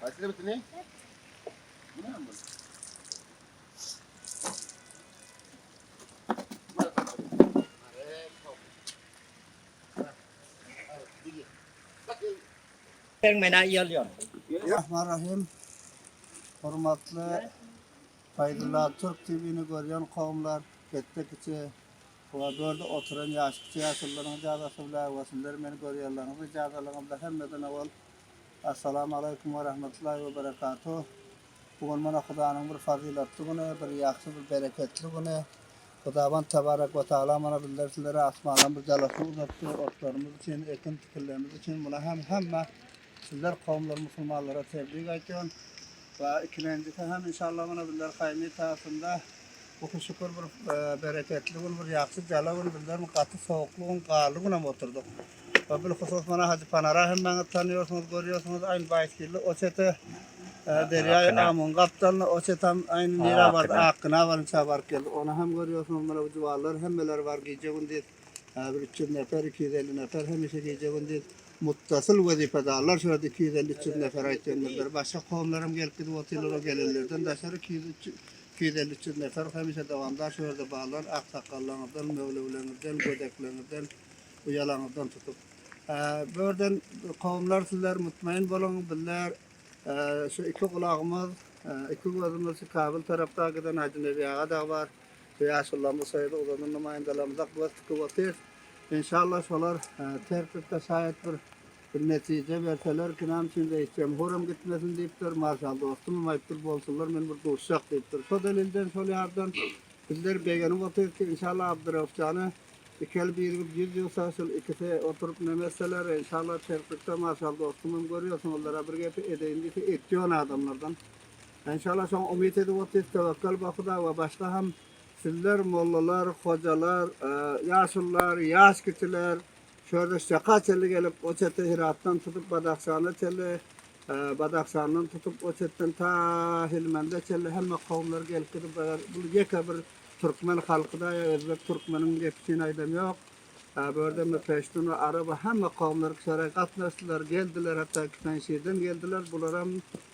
Haýsyny bitini? Bu näme bu? Sen mena ýalýar. Rahmanrahim. Hormatly Fayzulla Türk TV'ni görýän kowumlar, ketde kiçi Koridorda oturan ýaş kiçi ýaşulylaryň ijazasy bilen we sizler meni görýärleriňiz ijazalaryňyz bilen hemmeden owal Assalamu Aleýkum we Rahmetullahi we Berekatuh! Bu gün mana Hudanyň bir fazylatly güni, bir ýagşy, bir bereketli güni. Hudawand Tebarek we Tagala mana bizler sizlere asmandan bir jala suw uzatdy, otlarymyz üçin, ekin-tikinlerimiz üçin. Muna hem hemme Sizler kowumlar musulmanlara tebrik aýtýan we ikilenjisi hem inşallah mana bizler haýyň etasynda bu ki şükür bir bereketli gün bir ýagşy jala gün bizler gaty sowukly gün garly gün hem oturdyk we bil husus mana Hajy Panara hemmäňiz tanýorsyňyz görýorsyňyz aýn baýskilli o çete derýaýy Amun gapdalynda o çetem aýny nirä bardy Akgyna baryňça baryp geldik ony hem görýorsyňyz mana bu juwanlar hemmeleri bar gije gündiz Häzir üç ýüz neper, iki ýüz elli neper hemişe gije-gündiz muttasyl wezipedarlar şu ýerde iki ýüz elli, üç ýüz neper aýtýandyr. Bir başga kowumlaram gelip gidip otyrlar, o gelenlerden daşary iki ýüz, üç ýüz, iki ýüz elli, üç ýüz neper hemişe dowamdar şu ýerde barlar, aksakallaňyzdan, möwlewleňizden, gödekleňizden, uýalaňyzdan tutup. Bu ýerden kowumlar sizler mutmaýyn boluň, bizler şu iki gulagymyz, iki gözümiz şu Kabyl tarapda giden Hajy Nebi aga dagy bar. Bu ýaşulylarymyz şeýle ugurda namaýandalarymyza göz tikip otyrys. Enşalla şolar tertipde şaýat bir bir netije berseler kinam üçin reis jemhuram gitmesin diýipdir, marşal dostumam aýypdyr bolsunlar men bir duşjak diýipdir. Şo delilden şol ýardan bizler begenip otyrys ki enşalla Abdyrauf jana iki el birigip ýüz ýugsa şul ikisi oturyp neme etseler enşalla tertipde marşal dostumam görýärsiň olara bir gepi edeýin diýse etýän adamlardan Enşalla şoňa umyt edip otyrys töwekkel Bahuda we başga hem sizler mollalar, hojalar, ýaşullar, ýaş kişiler şu ýerde şaka çenli gelip o çete Hyratdan tutup Badahşana çenli, Badahşandan tutup o çetden ta Hilmende çenli hemme kowumlar gelip gidip bu ýeke bir türkmen halkyda ýa özbek türkmeniň gepçini aýdam ýok. Gördüňmi, peştun we arap we hemme kowumlar Kisarä gatnaşdylar, geldiler, hatda Kitanşirden geldiler, bularam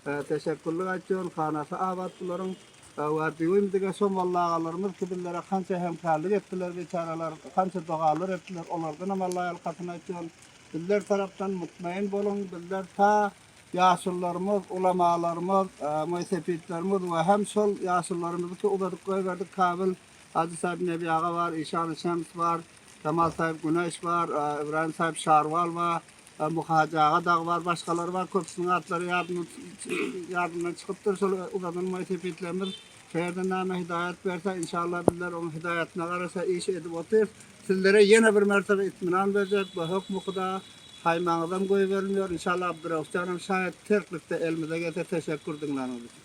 teşekgürlik aýtýaryn, hanasy abat bularyň. We düýbim dige şo molla agalarymyz ki, bizlere hança hemkärlik etdiler, biçäreler, hança dogalar etdiler, olardanam Alla ýalkasyn aýtýaryn. Bizler tarapdan mutmaýyn boluň, bizler ta ýaşullarymyz, ulamalarymyz, moýsepitlerimiz we hem şol ýaşullarymyzyňky uzadyp goýberdik Kabyl, Hajy Saýyp Nebi aga bar, Işany Şems bar, Jamal Saýyp Güneş bar, Ybraýym Saýyp Şarwal bar, Muhy Hajy aga dagy bar, başgalary bar, köpüsiniň atlary ýadymdan ýadymdan çykypdyr. Şol uzadylmaý sepitlerimiz käýerden näme hidaýat berse, inşallah bizler onuň hidaýatyna garasa iş edip otyrys. Sizlere ýene bir mertebe itminan berjek, bu hökmi huda saýmaňyzam goýberilmeýär. Inşallah Abdyraguf janam şaýat, terklikde elimize gelse teşekgür diňläniňiz üçin.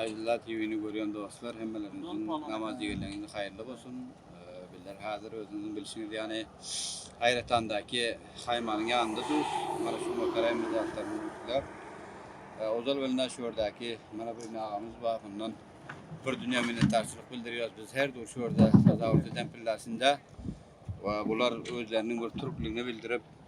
Aýdylla TV'ni görýän dostlar hemmeleriňiziň namaz ýigeleňiz haýyrly bolsun. Bizler häzir özüňiziň bilşiňiz ýaly Aýratandaky haýmanyň ýanynda durus. Mana şu mokaraýyn bir zatlaryny gürkläp. Ozal bilna şu ýerdäki mana bir agamyz bar. Ondan bir dünýä minnetdarçylyk bildirýäris. Biz her dur şu ýerde tazawut eden pillasynda we bular özleriniň bir türkligini bildirip,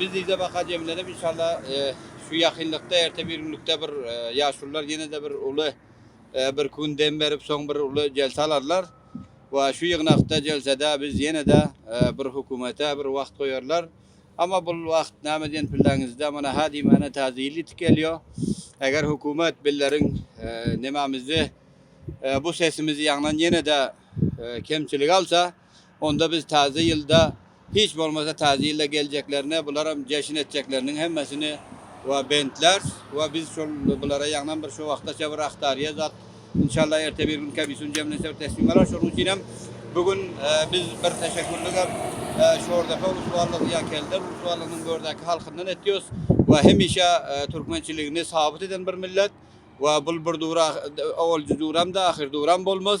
Biz yzabaka jemlenip inşallah şu ýakynlykda erte bir günlükde bir ýaşulylar ýene-de bir uly bir gün dem berip soň bir uly jelse alarlar we şu ýygnakda jelsede biz ýene-de bir hökümete bir wagt goýarlar. Amma bul wagt näme diýen pilleňizde mana hä diýmäne täze ýyl ýetip gelýär. Eger hökümet billeriň nämemizi bu sesimizi ýaňlan ýene-de kemçilik alsa, Onda biz Täze ýylda, hiç bolmasa Täze ýylda geljeklerine bularam jeşin etjekleriniň hemmesini we bentlärs we biz şol bulara ýagnan bir şu wagtaça bir aktarýa zat inşallah erte bir gün kebisün jemlense bir teslim alar şonuň üçin hem bu gün biz bir teşekkürlik hem Şordepe ulusuarlygy ýa Kelder ulusuarlygynyň gördäki halkyndan etýos we hemişe türkmençiligini sabyt eden bir millet we bul bir dura owalji duramda ahyr duram bolmaz.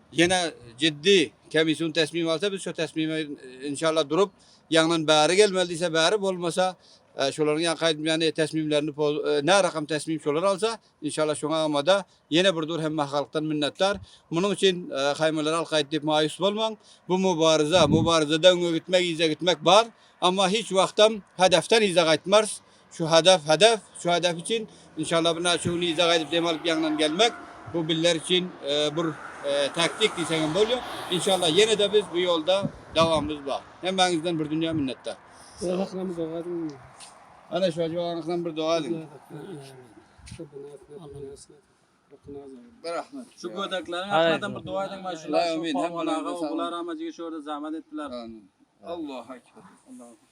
Ýene jiddi komissiýun tesmim alsa biz şo tesmime inşallah durup ýaňydan bäri gelmeli diýse bäri bolmasa şolaryň ýaňky aýdym ýaly tesmimlerini nä rakam tesmim şolar alsa inşallah şoňa amada ýene bir dur hemme halkdan minnetdar munuň üçin haýmalar halk aýt diýip maýus bolmaň bu mubaryza mubaryzada öňe gitmek yza gitmek bar amma hiç wagtam hedefden yza gaýtmars Şu hadaf hadaf, şu hadaf üçin inşallah bir naçe gün yza gaýdyp dem alyp ýaňydan gelmek bu bizler üçin bir taktik diýseň hem bolýar. Inşallah ýene-de biz bu ýolda dawamymyz bar. Hemmäňizden bir dünýä minnetdar. Sag boluň. Ana şu ajabaň ahyna bir doga ediň. Berahmet. Şu gödekleriň ahyna bir doga ediň şu Polwan aga, Ogul aramajygy şu ýerde zähmet etdiler. Allahu ekber. Allahu ekber.